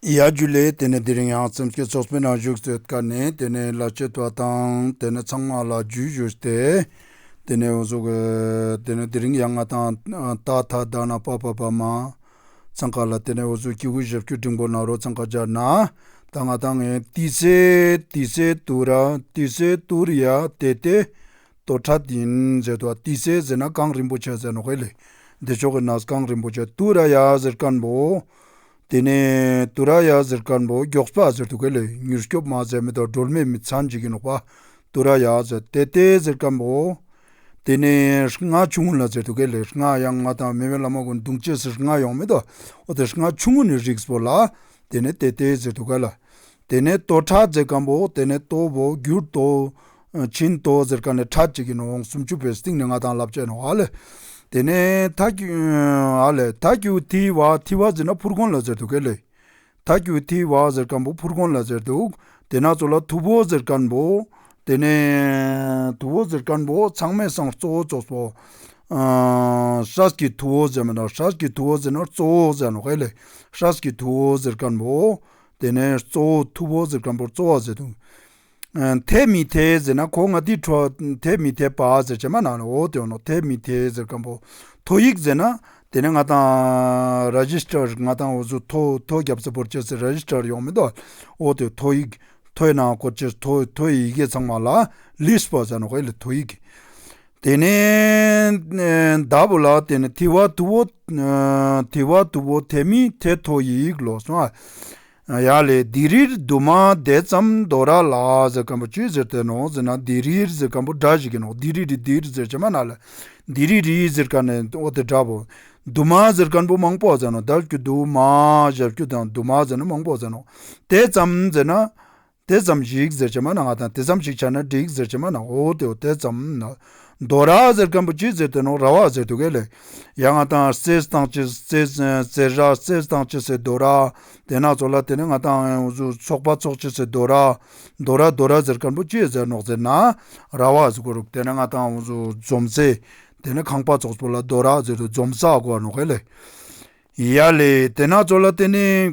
ཡ་རྒྱུ་ལས་དེ་ནས་དེ་རིང་ཡང་སེམས་སྐྱིད་ཚོགས་པའི་ནང་བཞུགས་ཟེར་དཀའ་ནས་དེ་ནས་ལ་ཆས་ཐུ་བ་དང་དེ་ནས་ཚང་མ་ལ་རྒྱུས་བཞུར་ཏེ་དེ་ནས་འོ་ཟོ་གི་དེ་ནས་དེ་རིང་ཡང་ང་དང་ཏག་ཐག་བསྡག་ན་པགས་པ་བབས་མ་ཚང་ཁ་ལ་དེ་ནས་འོ་ཟོ་སྐྱིད་ཁུ་བཞབ་ཁྱུ་འབྲིང་པོ་ནང་རོ་ཚང་ཁ་སྦྱར་ན་ད་ང་དང་ངའི་ཏི་སེ་ཏི་སེ་ཏུ་ར་ཏི་སེ་ཏུ་ར་ཡ་དེ་དེ། རྡོར་ཁྲ་དིན་མཛད་དུ་ཏི་སེ་ཛི་ན་ཀང་རིན་པོ་ཆེ་ཛེ་ནོ་ཧེ་ལེ་བདེ་མཆོག་གི་ནཱ་ཀང་རིན་པོ་ཆེ་ཏུ་ར་ཡ་ཟིར་དཀར་འབོ། དེ་ནས་ཏུ་ར་ཡ་ཟིར་དཀར་འབོ་མགྱོགས་སྤ་ཟེར་དུ་ཀེ་ལེ་མྱུར་སྐྱོབ་མ་མཛད་མི་དང་སྒྲོལ་མས་མི་ཚ་འཇིག་གིན་ནོག་པ་ཏུ་ར་ཡ་ཟེ་ཏེ་ཏེ་ཟིར་དཀར་འབོ། དེ་ནས་རྔ་ཆུང་ངུ་ལ་མཛད་དུ་ཀེ་ལེ་རྔ་ཡ་ང་དང་མེ་བའི་བླ་མ་ཀུན་དུང་ཅི་སིར་རྔ་ཡོང་མི་དང་འོ་དེ་རྔ་ཆུང་ངུ་ནི་རིགས་བོ་ལ་དེ་ནས་ཏེ་ཏེ་ཟིར་དུ་ཀ་ལ། དེ་ནས་ལྟོ་ཕྲག་བརྒྱད་སྐམ་པོ་དེ་ནས་ལྟོ་བོ་བསྒྱུར་ལྟོ། བྱིན་ལྟོ་ཟེར་ཀ་ནས་ཕྲག་གཅིག་གིས་ནི་འོང་སུམ་ཅུ་པའི་སྟེང་ནས་ལྔ་དང་ལབ་བྱས་ནོ་ཨ་ལས། དེ་ནས་ད་ཨ་ལས་ད་ཀྱུ་ཐི་བ་ཐི་བ་ཟེར་ན་ཕུར་གོང་ལ་ཟེར་འདུག་གེ་ལས། ད་ཀྱུ་ཐི་བ་ཟེར་སྐམ་པོ་ཕུར་གོང་ལ་ཟེར་འདུག་དེ་ན་ཚོ་ལ་ཐུ་བོ་ཟེར་སྐམ་པོ། དེ་ནས་ཐུ་བོ་ཟེར་སྐམ་པོ་ཚང་མས་སང་གཙོ་བོ་ཙོགས་སོ། ཧྲཱས་ཀྱི་ཐུ་བོ་ཟེར་མི་ན་ཧྲཱས་ཀྱི་ཐུ་བོ་ཟེར་ན་གཙོ་བོ་ཟེར་ནོ་གེ་ལས་ཧྲཱས་ཀྱི་ཐུ་བོ་ཟེར་སྐམ་པོ། དེ་ནས་གཙོ་བོ་ཐུ་བོ་ཟེར་སྐམ་པོར་གཙོ་བ་ཟེར་དུ། འཐད་མི་འཐད་ཟེར་ན་གོ་ང་དིའི་འཕྲོ་འཐད་མི་འཐད་པ་ཟེར་བྱེ་མ་ན་ལ་འོ་དེ་འོ་ནོ་འཐད་མི་འཐད་ཟེར་སྐམ་པོ་ཐོ་ཡིག་ཟེར་ན། དེ་ནས་ང་དང། Registrar ང་དང་འོ་ཟུར་ཐོ་ཐོ་རྒྱབ་ཟེར་བོར་བྱེ་ཟེར Registrar ཡོང་མི་འདོད་འོ་དེ་ཐོ་ཡིག་ཐོའི་ནང་གོ་བྱེ་ཟེར་ཐོའི་ཐོའི་ཡི་གེ་ཚང་མ་ལ List པོ་ཟེར་ན་གོ་ཡི་ལ་ཐོ་ཡིག། དེ་ནས་བདག་པོ་ལ་དེ་ནི་དེ་བ་དུ་བོ་དེ་བ་དུ་བོ་དེ་མི་དེ་ཐོ་ཡིག་ལོ་སོ་ཨ་ཡ་ལས་དི་རིར་དུ་མ་དེ་ཙམ་མདོ་ར་ལ་ཟེར་གམ་པོ་ཅུས་ཟེར་དེ་ནོ་ཟེར་ན་དི་རིར་ཟེར་གམ་པོ་སྒྲ་ཞིག་གི་ནོ་དི་རི་རི་དིར་ཟེར་བྱེ་མ་ན་ལ་དི་རི་རི་ཟེར་ག་ནས་ཨོ་དེ་འདྲ་བོ། དུ་མ་ཟེར་གམ་པོ་མང་པོ་ཟེར་ནོ་ཟླ་བསྐྱུ་དུ་མ་ཞབས་སྐྱུ་དང་དུ་མ་ཟེར་ན་མང་པོ་ཟེར་ནོ་དེ་ཙམ་ཟེར་ན། དེ་ཙམ་ཞིག་ཟེར་བྱེད་མ་ནའང་དང་དེ་ཙམ་ཞིག་བྱ་ན་འགྲིག་ཟེར་བྱེད་མ་ནའང་ཨོ་དེ་ཨོ་དེ་ཙམ། རྡོ་ར་ཟེར་མཁན་པོ་ཅི་ཟེར་དེ་ནོ་ར་བ་ཟེར་དུ་གས་ལེགས། ཡ་ང་དང་རྩེ་སྟངས་ཅི་རྩེ་ར་རྩེ་སྟངས་ཅི་ཟེར་རྡོ་ར། དེ་ནག་ཚོགས་ལ་དེ་ནི་ང་དང་ཚོགས་པ་ཚོགས་ཅི་ཟེར་རྡོ་ར། རྡོ་ར་རྡོ་ར་ཟེར་མཁན་པོ་ཅི་ཟེར་ནོག་ཟེར་ན་ར་བ་ཟེར་གོ་དེ་ནི་ང་དང་འཛོམས་ཚེ་དེ་ནི་ཁང་པ་ཚོགས་ཚོགས་ལ་རྡོ་ར་ཟེར་དུ་འཛོམས་ས་གོ་ནོག་གས་ལེགས། ཡ་ལེ་དེ་ནག་ཚོགས་ལ་དེ་ནི།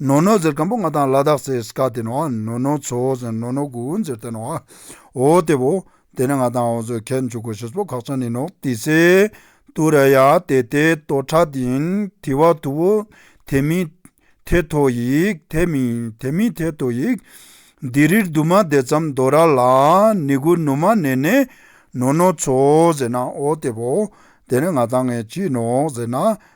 ནོ་ནོ་ཟེར་སྐམ་པོ་ང་དང་ལ་དྭགས་སའི་སྐ་དེ་ནོ་ནོ་ནོ་ཚོ་ཟེར་ནོ་ནོ་གུ་འུན་ཟེར་དེ་ནོ་ཨོ་དེ་བོ། དེ་ནི་ང་དང་ཨོ་ཚོས་ཁད་མཆུ་གོ་ཞེས་པོ་ཁག་ཅང་ནི་ནོག་ཏི་སེ། ཏུ་ར་ཡ་དེ་དེ་ཏོ་ཁྲ་དིན་དི་བ་དུ་བོ། དེ་མི། དེ་ཐོ་ཡིག་དེ་མི་དེ་མི་དེ་ཏོ་ཡིག། དི་རིར་དུ་མ་དེ་ཙམ་དོ་ར་ལ་ནི་གུ་ནུ་མ་ནེ་ནེ། ནོ་ནོ་ཚོ་ཟེར་ན་ཨོ་དེ་བོ། དེ་ནི་ང་དང་ངའི་གྱིས་ནོག་ཟེར་ན་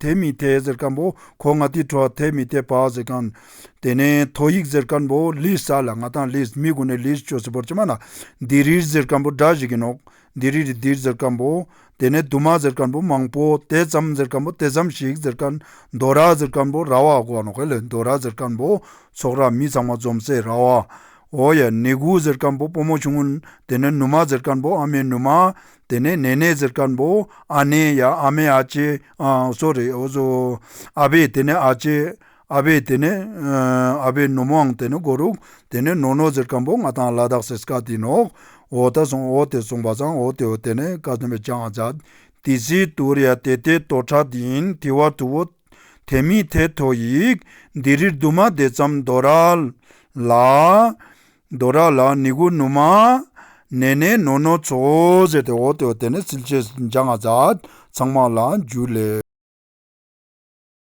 དེ་མི་དེ་ཟེར་ཀན་པོ་གོ་ང་དེའི་ཁྲོ་དེ་མི་དེ་པའོ་ཟེར་ཀན། དེ་ནས་ཐོ་ཡིག་ཟེར་ཀན་པོ་ལིས་ས་ལ་ང་དང་ལིས་མི་གོ་ནས་ལིས་ཅོ་སི་པོར་ཅི་མ་ལ། འདི་རིར་ཟེར་ཀན་པོ་སྒྲ་བཞི་གིན་ནོག་འདི་རི་རི་འདིར་ཟེར་ཀན་པོ། དེ་ནས་དུ་མ་ཟེར་ཀན་པོ་མང་པོ་དེ་ཙམ་ཟེར་ཀན་པོ་དེ་ཙམ་ཞིག་ཟེར་ཀན། མདོ་ར་ཟེར་ཀན་པོ་ར་བ་གོ་ནོག་ལི་མདོ་ར་ཟེར་ཀན་པོ་ཚོགས་ར་མི་ཚང་མ་འཛོམས་སའི་ར་བ། ཨོ་ཡ་ནི་གུ་ཟེར་ཀན་པོ་པོ་མོ་ཆུང་ངུ། དེ་ནས་ནུ་མ་ཟེར་ཀན་པོ་ཨ་མའི་ནུ་མ། དེ་ནས་ནེ་ནེ་ཟེར་དཀར་པོ་ཨ་ནེ་ཡ་ཨ་མེ་ཨ་ཅེ་ཨང་སོ་རེད་ཨོ་སོ། ཨ་བེ་དེ་ནི་ཨ་ཅེ་ཨ་བེ་དེ་ནི་ཨ་བེ་ནུ་མོའང་དེ་ནི་གོ་རུག་དེ་ནི་ནོ་ནོ་ཟེར་དཀར་པོ་ང་དང་ལ་དྭགས་སེར་སྐ་དེ་ནོག་འོ་ད་སོང་འོ་དེ་སོང་བ་ཟང་འོ་དེ་འོ་དེ་ནི་ཀ་ཟོན་པའི་ཅང་ཨ་ཛཱ་དི་སི་ཏུ་རི་ཡ་དེ་དེ་ཏོ་ཁྲ་དེ་ཡིན་དེ་བ་དུ་བོ་དེ་མི་དེ་ཐོ་ཡིག་འདི་རིར་དུ་མ་དེ་ཙམ་མདོ་ར་ལ། མདོ་ར་ལ་ནི་གུ་ནུ་མ། ནེ་ནེ་ནོ་ནོ་ཚོ་ཟེར་ཏེ་འོག་ཏུ་དེ་ནས་ཚིལ་ཆེ་འཇག་ནག་འཛག། ཚང་མ་ལ་འཇུ་ལེ།